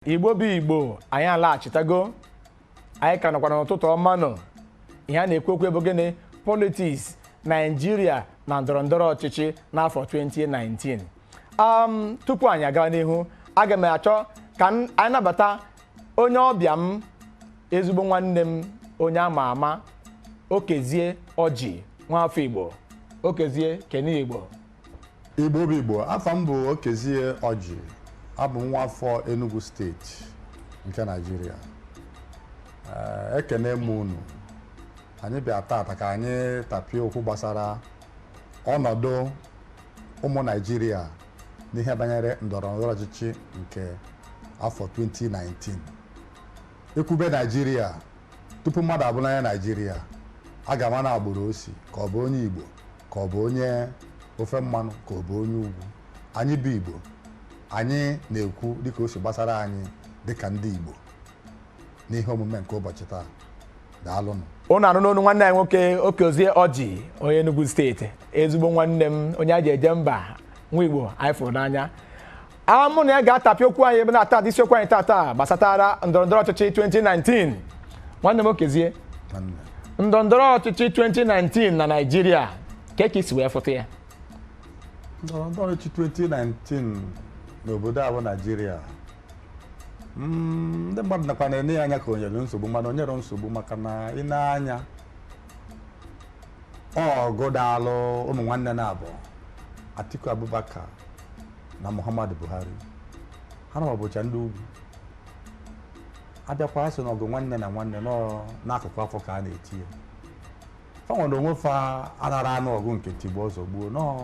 igbo bụ igbo anyị alaghachitago anyị ka nọkwa n'ụtụtụ ọma nụ ihe a na-ekwu okwu ya bụ gịnị politiks naijiria na ndọrọ ndọrọ ọchịchị n'afọ 2019 um, tupu anyị aga n'ihu aga m achọ ka m- anyị nabata onye ọbịa m ezigbo nwanne m onye ama ama okezie ọjị nwafọ igbo okezie kene igbo Igbo bụ Igbo afa m bụ Okezie Ọjị abụ m nwa afọ Enugu steeti nke Naịjirịa Ee, ekene m unu anyị bịa tata ka anyị tapie okwu gbasara ọnọdụ ụmụ Naịjirịa n'ihe banyere ndọrọ ndọrọ ọchịchị nke afọ 2019 ekwube Naịjirịa tupu mmadụ abụrụ onye Naịjirịa a ga-ama na agbụrụ o si ka ọ bụ onye Igbo ka ọ bụ onye ofe mmanụ ka ọ bụ onye ugwu anyị bụ igbo anyị na-ekwu dịka o si gbasara anyị dịka ndị igbo n'ihe omume nke ụbọchị taa daalụnụ unu anụna onu nwanne anyị nwoke okezie ọjị onye Enugu steeti ezigbo nwanne m onye a ji eje mba nwa igbo anyị fụrụ n'anya a mụ na ya ga-atapị okwu anyị ebe na-ata ata isiokwu anyị tata gbasatara ndọrọndọrọ ọchịchị 2019 nwanne m okezie ndọrọndọrọ ọchịchị 2019 na naijiria kee ka i si wee fụta ya ndọrọndọrọ ọchịchị 2019 n'obodo a bụ naijiria mm, ndị mmadụ nakwa na-ene ya anya ka o nwere nsogbu mana o nwerọ nsogbu maka na i nee anya ọgụ dalụ ụmụ nwanne naabọ Atiku Abubakar na Muhammadu Buhari ha naabọ bụcha ndị ugwu a bịakwa asị na ọgụ nwanne na nwanne nọ n'akụkụ afọ ka a na-eti ya fanwa na onwe fa anarọ anụ ọgụ nke tigbuo zọgbuo na ọ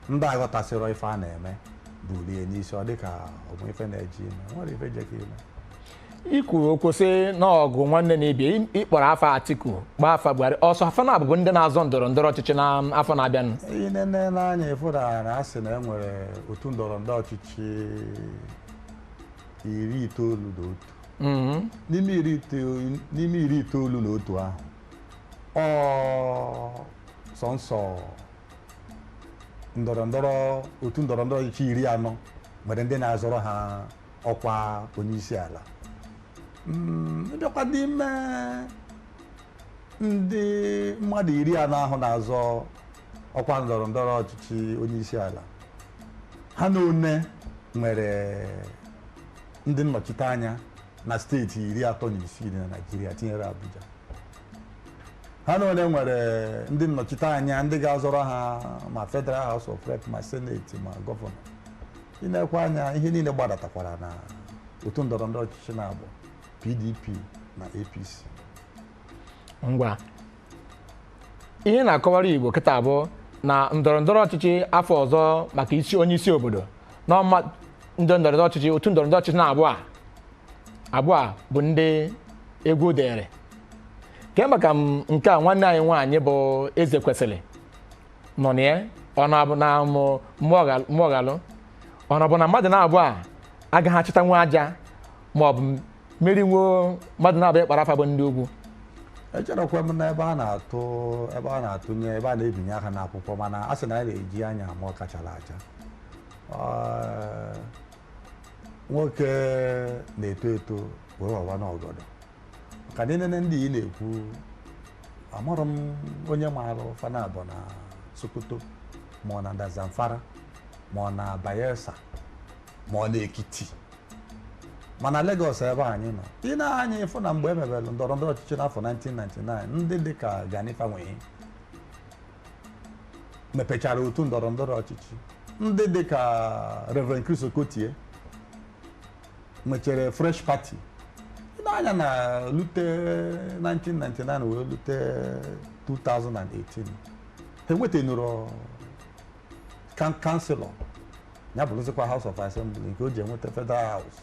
ndị aghọtasịrọ ife a na-eme bulu ya n'isi ọ dịka o nwe ife na-eje ime o nwerọ ife jekọ ime i kwuru okwu sị na ọgụ nwanne na ibe ya ị- ị kpọrọ afa atiku kpọọ afa buhari ọ sọ fa naabọ bụ ndị na-azọ ndọrọ ndọrọ ọchịchị na afọ na-abịanụ i nenee anya ị fụtara na a sị na e nwere otu ndọrọ ndọrọ ọchịchị iri itoolu na otu Mhm. n'ime iri itoolu n'ime iri itoolu na otu ahụ ọ sọnsọ ndọrọ ndọrọ otu ndọrọ ndọrọ ọchịchị iri anọ nwere ndị na-azọrọ ha ọkwa onye isi ala ị bịakwa mm, n'ime ndị mmadụ iri anọ ahụ na-azọ ọkwa ndọrọ ndọrọ ọchịchị onye isi ala ha na one nwere ndị nnọchite anya na steeti iri atọ na isii na Naịjirịa tinyere Abuja ha na one nwere ndị nnọchite anya ndị ga-azọrọ ha ma federal house of rep ma seneti ma gọvanọ i nekwaa anya ihe niile gbadatakwara na otu ndọrọ ndọrọ ọchịchị naabọ pdp na apc ngwa ihe na-akọwara igbo kịta bụ na ndọrọ ndọrọ ọchịchị afọ ọzọ maka isi onye isi obodo na ọma ndị ndọrọ ndọrọ ọchịchị otu ndọrọ ndọrọ ọchịchị naabọ a abụọ a bụ ndị egwu dịịrị kee maka nke a nwanne anyị nwaanyị bụ ezekwesili nọ na ya ọ na-abụ na mo- moghalu- moghalu ọ na-abụ na mmadụ naabọ a agaghị achịtanwu aja ma ọ bụ merinwuo mmadụ naabọ ị kpọrọ afa bụ ndị ugwu echerekwa m na ebe a na-atụ ebe a na-atụnye ebe a na-ebinye aka n'akwụkwọ mana a sị na a na-eji anya ama ọka chara acha Ee, nwoke na-eto eto wee wawanụ ọgọdọ ka anyị nene ndị ị na-ekwu amarọ m onye maara fa naabọ na sokoto ma ọ na nda zamfara ma ọ na bayelsa ma ọ na ekiti mana Lagos ebe anyị nọ i nee anya ị fụ na mgbe e mebere ndọrọ ndọrọ ọchịchị n'afọ 1999 ndị dị ka Gani Fawehinmi mepechara otu ndọrọ ndọrọ ọchịchị ndị dị ka Reverend Chris Okotie nwechara fresh party nee anya na lute 1999 wee lute 2018 ha enwetenụrọ kan- kanselọ ya bụrụzikwa house of assembly nke o ji enweta federal house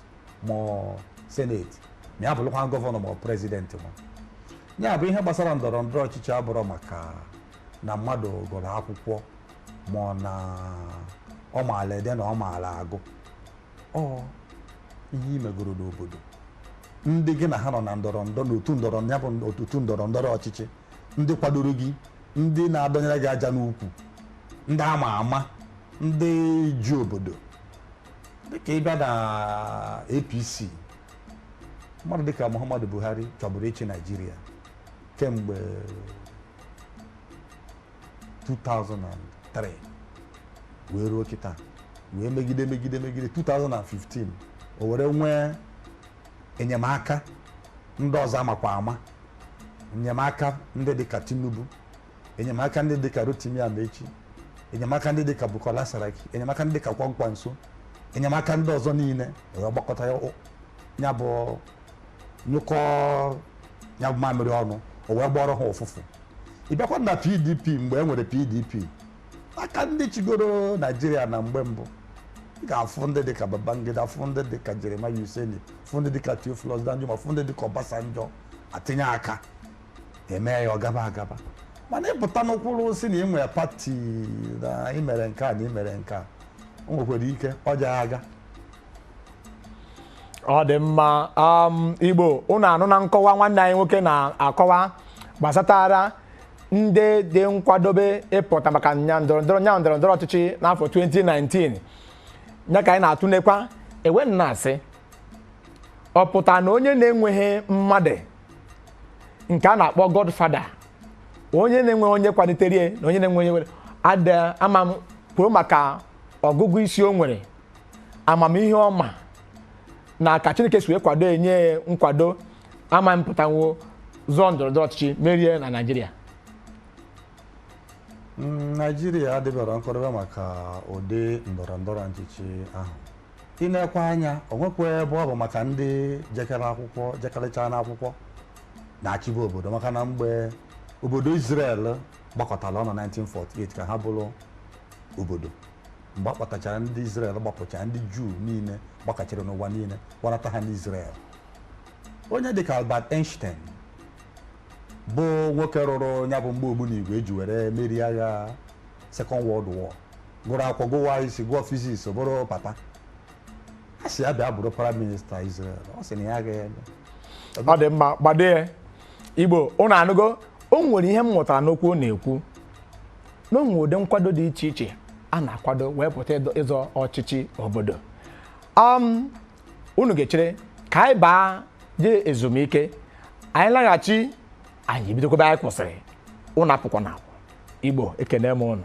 ma ọ senate ma ya bụrụkwa gọvanọ ma ọ prezident ma ya bụ ihe gbasara ndọrọ ndọrọ ọchịchị abụrọ maka na mmadụ gụrụ akwụkwọ ma ọ na ọ maala ede na ọ maala agụ ọ ihe i megoro n'obodo ndị gị na ha nọ na ndọrọ ndọrọ n'otu ndọrọ ya bụ otu ndọrọ ndọrọ ọchịchị ndị kwadoro gị ndị na-adọnyere gị aja n'ukwu ndị ama ama ndị ji obodo dịka ị bịa na APC mmadụ dịka Muhammadu Buhari chọburu ịchị Naijiria kemgbe 2003 wee ruo kịta wee megide megide megide 2015 o were nwee enyemaka ndị ọzọ a makwa ama enyemaka ndị dịka tinubu enyemaka ndị dịka rotimi amaechi enyemaka ndị dịka bukola saraki enyemaka ndị dịka kwankwaso enyemaka ndị ọzọ niile wee gbakọta ya o- ya bụ nyụkọ ya bụ mamịrị ọnụ o wee gbọrọ ha ụfụfụ ị bịakwa na pdp mgbe e nwere pdp aka ndị chịgoro naijiria na mgbe mbụ ị ga-afụ ndị dịka babangida fụ ndị dịka jeremiah useni fụ ndị dịka theophilus danjuma fụ ndị dịka ọbasanjọ atinye aka eme ya ọ gaba agaba mana ị pụtanụ kwụrụ sị na ị nwere pati na ị mere nke a na ị mere nke a o nwekwara ike ọ jaghị aga ọ dị mma um, igbo ụnụ anụna nkọwa nwanne anyị nwoke na-akọwa gbasatara ndị dị nkwadobe ịpụta maka nya ndọrọ ndọrọ ọchịchị n'afọ 2019 ya ka anyị na-atụnekwa e wee na-asị ọ pụta na onye na-enweghị mmadụ nke a na-akpọ godfather onye na-enweghị onye kwalitere ya na onye na-enweghị onye nwere ada ama m kwuo maka ọgụgụ isi o nwere amamihe ọma na ka chineke si wee kwado enye ya nkwado ama apụtanwo zọọ ndọrọ ndọrọ ọchịchị merie na naijiria Mm, naijiria adịbara nkwadobe maka ụdị ndọrọ ndọrọ ọchịchị ahụ i nekwaa anya o nwekwa ebe ọ bụ maka ndị jekere akwụkwọ jekarịcha n'akwụkwọ na-achịbu obodo maka na mgbe obodo Israel gbakọtara ọnụ 1948 ka ha bụrụ obodo mgbe a kpọtachara ndị Israel gbapụcha ndị Juu niile gbakachiri n'ụwa niile kpọnata ha n'Israel onye dịka Albert Einstein bụ nwoke rụrụ ya bụ mgbọ ogbunigwe e ji were merie agha Second World War gụrụ akwụkwọ gụwa isi gụọ fiziks bụrụ papa a sị ya bịa bụrụ prime minista Israel ọ sị na ya agaghị eme ọ dị mma gbadee igbo ụnụ anụgo o nwere ihe m mụtara n'okwu ọ na-ekwu na o nwere ụdị nkwado dị iche iche a na-akwado wee pụta ịdọ- ịzọ ọchịchị obodo um, unu ga-echere ka anyị baa jee ezumike anyị laghachi anyị ebidokwa ebe anyị kwụsịrị unu apụkwana igbo ekene m unu